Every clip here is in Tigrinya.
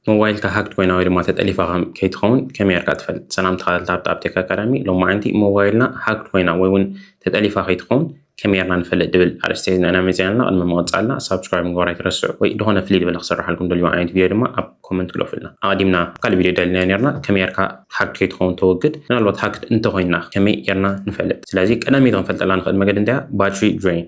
ሞባይልካ ሃክድ ኮይና ወይ ድማ ተጠሊፋ ከይትኸውን ከመይ ጌርካ ትፈልጥ? ሰላም ተኸታተልቲ ሃብቲ ኣፕቴክ ኣካዳሚ፣ ሎማዕንቲ ሞባይልና ሃክድ ኮይና ወይ እውን ተጠሊፋ ከይትኸውን ከመይ ጌርና ንፈልጥ ዝብል ኣርእስቲ ሒዝና ኢና መፂና ኣለና። ቅድሚ ምቕፃልና ሳብስክራይብ ምግባር ኣይትረስዑ ወይ ዝኾነ ፍልይ ዝበለ ክስረሓልኩም ትደልይዎ ዓይነት ቪድዮ ድማ ኣብ ኮመንት ግደፉልና። ኣቐዲምና ካልእ ቪድዮ ደሊና ኔርና ከመይ ጌርካ ሃክድ ከይትኸውን ተወግድ፣ ምናልባት ሃክድ እንተኾይንና ከመይ ጌርና ንፈልጥ? ስለዚ ቀዳመይቲ ክንፈልጠላ ንኽእል መገዲ እንታይ እያ? ባትሪ ድሬይን።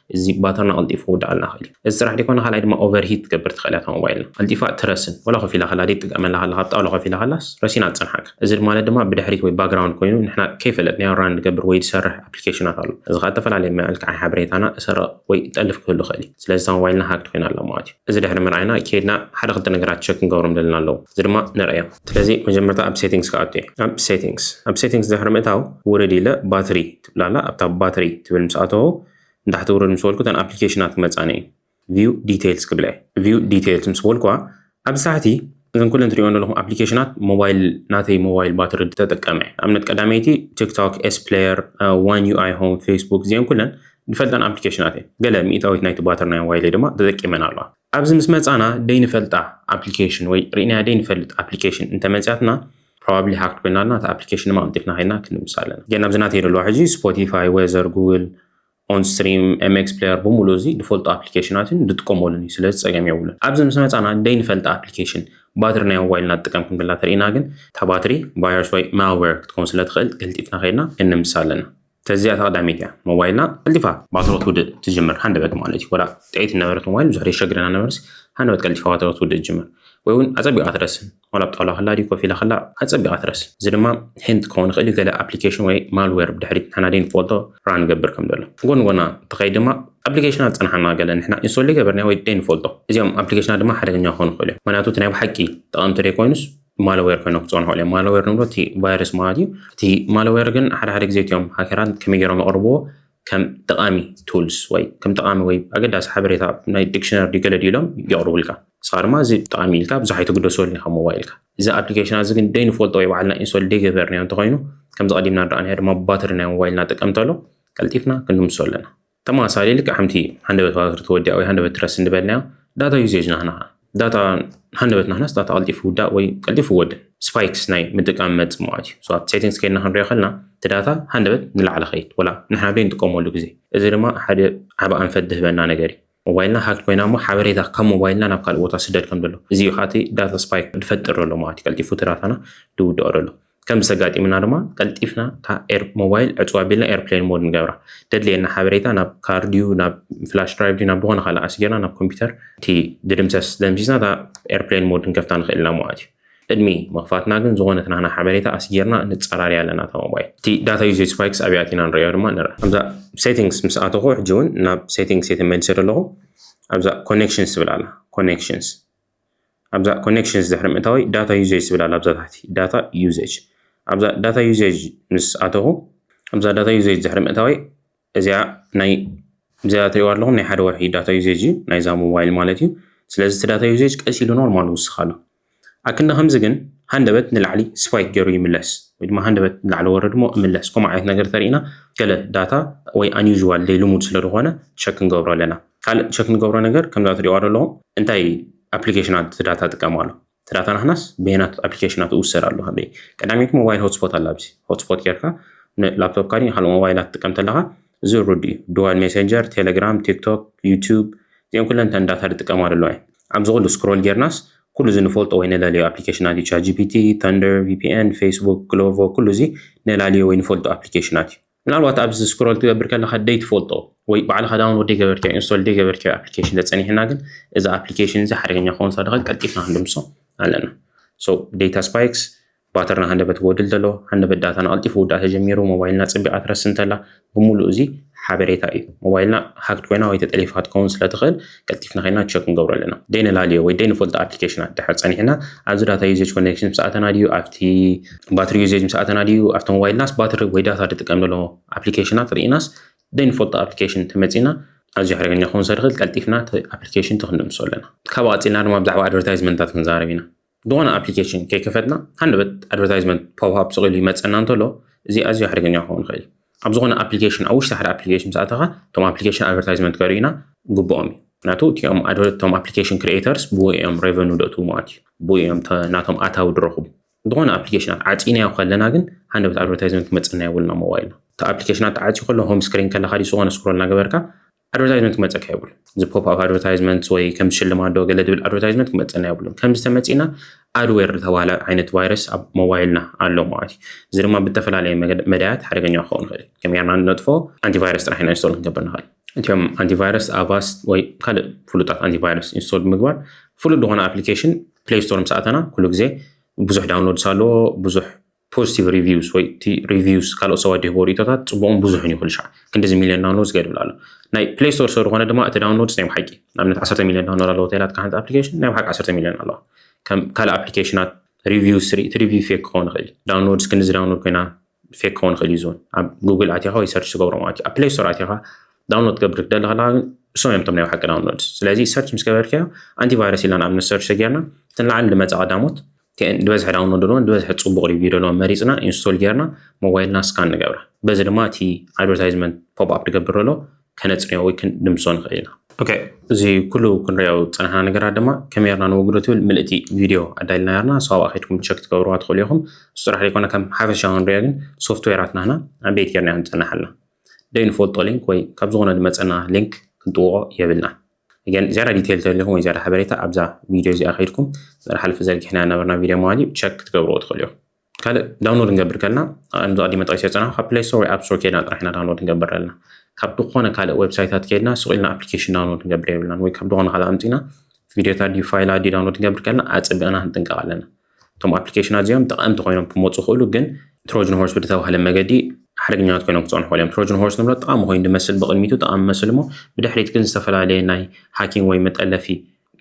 እዚ ባተርና ቀልጢፉ ክውድኣልና ይኽእል እዩ። እዚ ጥራሕ ዘይኮነ ካልኣይ ድማ ኦቨር ሂት ክትገብር ትኽእል እያ እታ ሞባይልና። ቀልጢፋ እትረስን ዋላ ኮፍ ኢላ ከላ ደይትጥቀመላ ከላ ካብ ጣውላ ኮፍ ኢላ ከላስ ረሲና ትጸንሓካ። እዚ ማለት ድማ ብድሕሪት ወይ ባግራውንድ ኮይኑ ንሕና ከይፈለጥናዮ ራን ዝገብር ወይ ዝሰርሕ ኣፕሊኬሽናት ኣሎ። እዚ ከኣ እተፈላለየ መልክዓዊ ሓበሬታና እሰርቕ ወይ እጠልፍ ክህሉ ይኽእል እዩ። ስለዚ እታ ሞባይልና ሃክድ ኮይና ኣላ ማለት እዩ። እዚ ድሕሪ ምርኣይና ኬድና ሓደ ክልተ ነገራት ቸክ ክንገብሮም ደለና ኣለዉ። እዚ ድማ ንርእዮም። ስለዚ መጀመርታ ኣብ ሴቲንግስ ክኣቱ እየ። ኣብ ሴቲንግስ ኣብ ሴቲንግስ ድሕሪ ምእታው ውርድ ኢለ ባትሪ። ላላ ኣብታ ባትሪ ትብል ምስ ኣተዎ ንታሕቲ ውረድ ምስ በልኩ እተን ኣፕሊኬሽናት ክመጻኒ እየን view details ክብላ እየ view details ምስ በልኩዋ ኣብዚ ታሕቲ እዘን ኩለን ትሪኦን ዘለኹም ኣፕሊኬሽናት ሞባይል ናተይ ሞባይል ባትሪ ተጠቀመ እየ ኣብነት ቀዳመይቲ ቲክቶክ ኤስ ፕሌየር ዋን ዩ ኣይ ሆም ፌስቡክ እዚአን ኩለን ንፈልጠን ኣፕሊኬሽናት እየን ገለ ሚእታዊት ናይቲ ባትሪ ናይ ሞባይለይ ድማ ተጠቂመን ኣለዋ ኣብዚ ምስ መጻና ደይንፈልጣ ኣፕሊኬሽን ወይ ርኢናያ ደይንፈልጥ ኣፕሊኬሽን እንተመጽያትና ፕሮባብሊ ሃክድ ኮይና ኣላ እታ ኣፕሊኬሽን ድማ ቀልጢፍና ከይድና ክንምሳ ኣለና ግን ኣብዚ ናተይ ዘለዋ ሕጂ ስፖቲፋይ ዌዘር ጉግል ኦን ስትሪም ኤምኤክስ ፕሌየር ብምሉእ እዚ ዝፈልጦ ኣፕሊኬሽናት እዩን ዝጥቀመሉን እዩ ስለዚ ፀገም የብሉን ኣብዚ ምስ መፃና ደይንፈልጠ ኣፕሊኬሽን ባትሪ ናይ ሞባይልና ትጥቀም ክንብላ ተርእና ግን እታ ባትሪ ቫይረስ ወይ ማልዌር ክትከውን ስለ ትኽእል ቀልጢፍና ከይድና ክንምሳ ኣለና ተዚኣ ተቀዳሚት እያ ሞባይልና ቀልጢፋ ባትሮ ትውድእ ትጅምር ሃንደበት ማለት እዩ ወላ ጥዒት ነበረት ሞባይል ብዙሕ የሸግረና ነበርስ ሃንደበት ቀልጢፋ ባትሮ ትውድእ ትጅምር ወይ እውን ኣጸቢቓ ትረስን ወላ ብጣውላ ከላ ድዩ ኮፍ ኢላ ከላ ኣጸቢቓ ትረስ እዚ ድማ ሂንት ክኸውን ይኽእል እዩ ገለ ኣፕሊኬሽን ወይ ማልዌር ብድሕሪት ንሕና ደይ ንፈልጦ ራ ንገብር ከም ዘሎ ጎን ጎና ተኸይድ ድማ ኣፕሊኬሽናት ዝጸንሓና ገለ ንሕና ኢንስቶል ዘይገበርና ወይ ደይ ንፈልጦ እዚኦም ኣፕሊኬሽናት ድማ ሓደገኛ ክኾኑ ይኽእሉ እዮም ምክንያቱ እቲ ናይ ብሓቂ ጠቐምቲ ደይ ኮይኑስ ማለዌር ኮይኖ ክፀንሑ እዮም ማለዌር ንብሎ እቲ ቫይረስ ማለት እዩ እቲ ማለዌር ግን ሓደ ሓደ ግዜ እትዮም ሃከራት ከመይ ገይሮም የቕርብዎ ከም ጠቃሚ ቱልስ ወይ ከም ጠቃሚ ወይ ኣገዳሲ ሓበሬታ ናይ ዲክሽነር ድዩ ገለ ድዩ ኢሎም የቕርቡልካ ንስኻ ድማ እዚ ጠቃሚ ኢልካ ብዙሕ ኣይትግደሰሉ ኢኻ ሞባይልካ እዚ ኣፕሊኬሽን እዚ ግን ደይንፈልጦ ወይ ባዕልና ኢንሶል ደይገበርናዮ እንተኮይኑ ከምዚ ቀዲምና ንረኣናዮ ድማ ባትሪ ናይ ሞባይልና ጥቀም ተሎ ቀልጢፍና ክንምሶ ኣለና ተመሳሳሊ ልክዕ ከምቲ ሃንደበት ባትሪ ትወድያ ወይ ሃንደበት ትረስ እንበልናዮ ዳታ ዩዜጅ ናህና ኸዓ ዳታ ሃንደበት ናህናስ ዳታ ቀልጢፉ ይውዳእ ወይ ቀልጢፉ ይወድእ ስፓይክስ ናይ ምጥቃም መፅ መዋት እዩ ኣብ ሴቲንግስ ከይድና ክንሪኦ ከልና እቲ ዳታ ሃንደበት ንላዕሊ ከይድ ወላ ንሕና ዶ ንጥቀመሉ ግዜ እዚ ድማ ሓደ ዓበ ኣንፈት ዝህበና ነገር እዩ ሞባይልና ሃክ ኮይና እሞ ሓበሬታ ካብ ሞባይልና ናብ ካልእ ቦታ ስደድ ከም ዘሎ እዚ እዩ ከዓቲ ዳታ ስፓይክ ዝፈጥር ዘሎ ማለት እዩ ቀልጢፉ እቲ ዳታና ዝውድኦ ዘሎ ከምዚ ተጋጢሙና ድማ ቀልጢፍና እታ ኤር ሞባይል ዕፅው ኣቢልና ኤርፕሌን ሞድ ንገብራ ደድልየና ሓበሬታ ናብ ካር ድዩ ናብ ፍላሽ ድራይቭ ድዩ ናብ ዝኾነ ካልእ ኣስጊርና ናብ ኮምፒውተር እቲ ድድምሰስ ደምሲስና እታ ኤርፕሌን ሞድ ክንከፍታ ንኽእል ኢና ማለት እዩ ቅድሚ ምኽፋትና ግን ዝኾነት ናህና ሓበሬታ ኣስጊርና ንጸራርያ ኣለና እታ ሞባይል እቲ ዳታ ዩሴጅ ስፓይክስ ኣብያ ኣቲና ንሪኦ ድማ ንርኣ ኣብዛ ሴቲንግስ ምስ ኣተኹ ሕጂ እውን ናብ ሴቲንግስ እየ ተመሊሰ ዘለኹ ኣብዛ ኮኔክሽንስ ትብል ኣላ ኮኔክሽንስ ኣብዛ ኮኔክሽንስ ድሕሪ ምእታወይ ዳታ ዩዜጅ ዝብል ኣሎ ኣብዛ ታሕቲ ዳታ ዩዜጅ ኣብዛ ዳታ ዩዜጅ ምስ ኣተኹ ኣብዛ ዳታ ዩዜጅ ድሕሪ ምእታወይ እዚኣ ናይ እዚኣ ትሪእዋ ኣለኹም ናይ ሓደ ወርሒ ዳታ ዩዜጅ እዩ ናይዛ ሞባይል ማለት እዩ ስለዚ እቲ ዳታ ዩዜጅ ቀስ ኢሉ ኖርማል ውስኽ ኣሎ ኣክንዲ ከምዚ ግን ሃንደበት ንላዕሊ ስፓይክ ገይሩ ይምለስ ወይ ድማ ሃንደበት ንላዕሊ ወረድ ሞ እምለስ ከምኡ ዓይነት ነገር ተሪእና ገለ ዳታ ወይ ኣንዩዥዋል ዘይልሙድ ስለ ዝኾነ ቸክ ክንገብሮ ኣለና ካልእ ቸክ ንገብሮ ነገር ከምዛ ትሪእዋ ዘለኹም እንታይ ኣፕሊኬሽናት ዳታ ጥቀም ኣሎ እቲ ዳታ ናትናስ በየናት ኣፕሊኬሽናት እውሰድ ኣሎ ክንደይ ቀዳሚት ሞባይል ሆትስፖት ኣላ ኣብዚ ሆትስፖት ጌርካ ንላፕቶፕካ ድዩ ካልእ ሞባይላት ትጥቀም ተለኻ እዚ ርዱ እዩ ድዋል ሜሴንጀር ቴሌግራም ቲክቶክ ዩቱብ እዚኦም ኩለን እተን ዳታ ዝጥቀማ ኣለዋ እየን ኣብዚ ኩሉ ስክሮል ጌርናስ ኩሉ እዚ ንፈልጦ ወይ ንለልዮ ኣፕሊኬሽናት እዩ ቻት ጂፒቲ ተንደር ቪፒኤን ፌስቡክ ግሎቮ ኩሉ እዚ ንላልዮ ወይ ንፈልጦ ኣፕሊኬሽናት እዩ ምናልባት ኣብዚ ስክሮል ትገብር ከለካ ደይ ትፈልጦ ወይ ባዕልካ ዳውንሎድ ደይ ገበርትዮ ኢንስቶል ደይ ገበርትዮ ኣፕሊኬሽን ተጸኒሕና ግን እዚ ኣፕሊኬሽን እዚ ሓደገኛ ክኸውን ሳደኸ ቀልጢፍና ክንድምሶ ኣለና ሶ ዴታ ስፓይክስ ባተርና ሃንደበት ወድል ዘሎ ሃንደበት ዳታ ንቐልጢፉ ውዳእ ተጀሚሩ ሞባይልና ጽቢቓ ትረስ እንተላ ብምሉእ እዚ ሓበሬታ እዩ ሞባይልና ሃክት ኮይና ወይ ተጠሊፋ ክትከውን ስለ ትኽእል ቀልጢፍና ከይና ቸክ ንገብሮ ኣለና ደይነላልዮ ወይ ደይንፈልጦ ኣፕሊኬሽናት ድሕር ፀኒሕና ኣብዚ ዳታ ዩዜጅ ኮኔክሽን ምስ ኣተና ድዩ ኣብቲ ባትሪ ዩዜጅ ምስ ኣተና ድዩ ኣብቲ ሞባይልናስ ባትሪ ወይ ዳታ ድጥቀም ዘሎ ኣፕሊኬሽናት ርኢናስ ደይንፈልጦ ኣፕሊኬሽን ተመፂና ኣዝዩ ሓደገኛ ክኸውን ስለዝኽእል ቀልጢፍና እቲ ኣፕሊኬሽን ተክንደምሶ ኣለና ካብኡ ቀፂልና ድማ ብዛዕባ ኣድቨርታይዝመንታት ክንዛረብ ኢና ዝኾነ ኣፕሊኬሽን ከይከፈትና ሃንደበት ኣድቨርታይዝመንት ፖፕኣፕ ስቕ ኢሉ ይመፀና እንተሎ እዚ ኣዝዩ ሓደገኛ ክኸውን ይኽእል እዩ ኣብ ዝኾነ ኣፕሊኬሽን ኣብ ውሽጢ ሓደ ኣፕሊኬሽን ምስ ኣተኻ እቶም ኣፕሊኬሽን ኣድቨርታይዝመንት ከርእዩና ግብኦም እዩ ምክንያቱ እቲኦም ኣድቨርቶም ኣፕሊኬሽን ክሪኤተርስ ብኡ እዮም ሬቨኑ ደእትዉ ማለት እዩ ብኡ እዮም ናቶም ኣታዊ ድረኹቡ ዝኾነ ኣፕሊኬሽናት ዓፂናዮ ከለና ግን ሃንደበት ኣድቨርታይዝመንት ክመፀና የብሉና ሞባይልና እቲ ኣፕሊኬሽናት ተዓፅዩ ከሎ ሆም ስክሪን ከለካ ድዩ ዝኾነ ስክሮል እናገበርካ ኣድቨርታይዝመንት ክመፀካ የብሉን እዚ ፖፕ ኣብ ኣድቨርታይዝመንት ወይ ከም ሽልማት ዶ ገለ ድብል ኣድቨርታይዝመንት ክመፀና የብሉን ከም ዝተመፂና ኣድዌር ዝተባሃለ ዓይነት ቫይረስ ኣብ ሞባይልና ኣሎ ማለት እዩ እዚ ድማ ብተፈላለየ መዳያት ሓደገኛ ክኸውን ይኽእል እዩ ከመይ ጌርና ንነጥፎ ኣንቲቫይረስ ጥራሕ ኢና ኢንስቶል ክንገብር ንኽእል እቲም ኣንቲቫይረስ ኣቫስት ወይ ካልእ ፍሉጣት ኣንቲቫይረስ ኢንስቶል ብምግባር ፍሉጥ ዝኾነ ኣፕሊኬሽን ፕሌይ ስቶር ምስ ኣተና ኩሉ ግዜ ብዙሕ ዳውንሎድስ ኣለዎ ብዙሕ ፖዚቲቭ ሪቪውስ ወይ እቲ ሪቪውስ ካልኦት ሰባት ድህቦ ርእቶታት ፅቡቕን ብዙሕን ይኹን ሻዕ ክንዲዚ ሚልዮን ዳውንሎድስ ገድብል ኣሎ ናይ ፕሌይ ስቶር ሰሩ ኮነ ድማ እቲ ዳውንሎድስ ናይ ብሓቂ ንኣብነት 10 ሚልዮን ዳውንሎድ ኣለዎ ተላትካ ሓንቲ ኣፕሊኬሽን ናይ ብሓቂ 10 ሚልዮን ኣለዋ ከም ካልእ ኣፕሊኬሽናት ሪቪውስ ርኢ እቲ ሪቪው ፌክ ክኸውን ይኽእል እዩ ዳውንሎድስ ክንዲዚ ዳውንሎድ ኮይና ፌክ ክኸውን ይኽእል እዩ ዝውን ኣብ ጉግል ኣትኻ ወይ ሰርች ዝገብሮ ማለት እዩ ኣብ ፕሌይ ስቶር ኣትኻ ዳውንሎድ ትገብር ክትደሊ ከለካ ግን እሶም እዮም ቶም ናይ ብሓቂ ዳውንሎድስ ስለዚ ሰርች ምስ ገበርካዮ ኣንቲቫይረስ ኢልና ንኣብነት ሰርች ሰጊርና እተን ላዕሊ ዝመፃ ቀዳሞት ዝበዝሐ ዳውንሎድ ኣለዎ ዝበዝሐ ፅቡቅ ሪቪው ዘለዎ መሪፅና ኢንስቶል ጌርና ሞባይልና ስካን ንገብራ በዚ ድማ እቲ ኣድቨርታይዝመንት ፖፕ ኣፕ ድገብር ዘሎ ከነፅንዮ ወይ ክንድምሶ ንኽእል ኢና ኦኬ እዚ ኩሉ ክንሪኦ ዝፀናሕና ነገራት ድማ ከመይ ርና ንወግዶ ትብል ምልእቲ ቪድዮ ኣዳልና ርና ሰብኣ ከድኩም ቸክ ትገብርዋ ትኽእሉ ኢኹም እሱ ጥራሕ ዘይኮነ ከም ሓፈሻ ክንሪኦ ግን ሶፍትዌራት ናህና ኣቤት ጌርና ንፀናሓልና ደይንፈልጦ ሊንክ ወይ ካብ ዝኾነ ዝመፀና ሊንክ ክንጥውቆ የብልና ግን ዝያዳ ዲቴይል ተደሊኹም ወይ ዝያዳ ሓበሬታ ኣብዛ ቪድዮ እዚኣ ከይድኩም ዝሓለፈ ዘርጊሕና ነበርና ቪድዮ መዋሊ ቸክ ክትገብርዎ ትኽእሉ እዮም ካልእ ዳውንሎድ ንገብር ከልና ከምዚ ቀዲመ ጠቂሰ ዝፀናሑ ካብ ፕሌይ ስቶር ወይ ኣብ ስቶር ከድና ጥራሕ ኢና ዳውንሎድ ንገብር ኣለና ካብ ዝኾነ ካልእ ዌብሳይታት ከድና ሱቅ ኢልና ኣፕሊኬሽን ዳውንሎድ ንገብር የብልናን ወይ ካብ ዝኾነ ካልእ ኣምፂና ቪድዮታት ድዩ ፋይላት ድዩ ዳውንሎድ ንገብር ከልና ኣፀቢቕና ክንጥንቀቕ ኣለና እቶም ኣፕሊኬሽናት እዚኦም ጠቐምቲ ኮይኖም ክመፁ ይኽእሉ ግን ትሮጅን ሆርስ ብዝተባህለ መገዲ ሓደገኛት ኮይኖም ክፀኑ ክኽእሉ እዮም ትሮጅን ሆርስ ንብሎ ጠቓሚ ኮይኑ ዝመስል ብቕድሚቱ ጠቓሚ መስል እሞ ብድሕሪት ግን ዝተፈላለየ ናይ ሃኪንግ ወይ መጠለፊ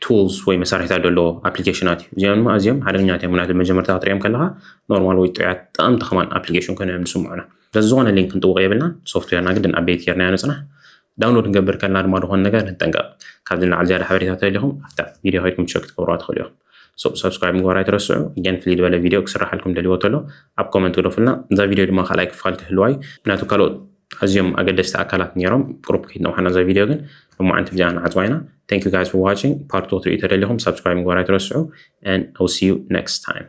ቱልስ ወይ መሳርሒታት ዘለዎ ኣፕሊኬሽናት እዩ እዚኦም ድማ ኣዝዮም ሓደገኛት እዮም ምክንያቱ መጀመርታ ክትሪኦም ከለካ ኖርማል ወይ ጥዑያት ጠቐምቲ ከማን ኣፕሊኬሽን ኮይኑ እዮም ዝስምዑና ስለዚ ዝኾነ ሊንክ ክንጥውቕ የብልናን ሶፍትዌርና ግድን ኣቤት ጌርናዮ ንፅናሕ ዳውንሎድ ክንገብር ከለና ድማ ዝኾነ ነገር ንጠንቀቕ ካብዚ ንላዕሊ ዝያዳ ሓበሬታ ተደሊኹም ኣብታ ቪድዮ ከይድኩም ቸክ ክትገብሩዋ ትኽእሉ ኢኹም ሶ ሳብስክራይብ ምግባር ኣይትረስዑ እገን ፍልይ ዝበለ ቪድዮ ክስራሓልኩም ደልዎ ተሎ ኣብ ኮመንት ግደፉልና እዛ ቪድዮ ድማ ካልኣይ ክፋል ክህልዋ እዩ ምክንያቱ ካልኦት ኣዝዮም ኣገደስቲ ኣካላት ነይሮም ቁሩብ ከይትነውሓና እዛ ቪድዮ ግን ብማዓንቲ ብዚኣ ንዓፅዋ ኢና thank you guys for watching part 2 ክትሪኡ ተደሊኹም ሳብስክራይብ ምግባር ኣይትረስዑ and I will see you next time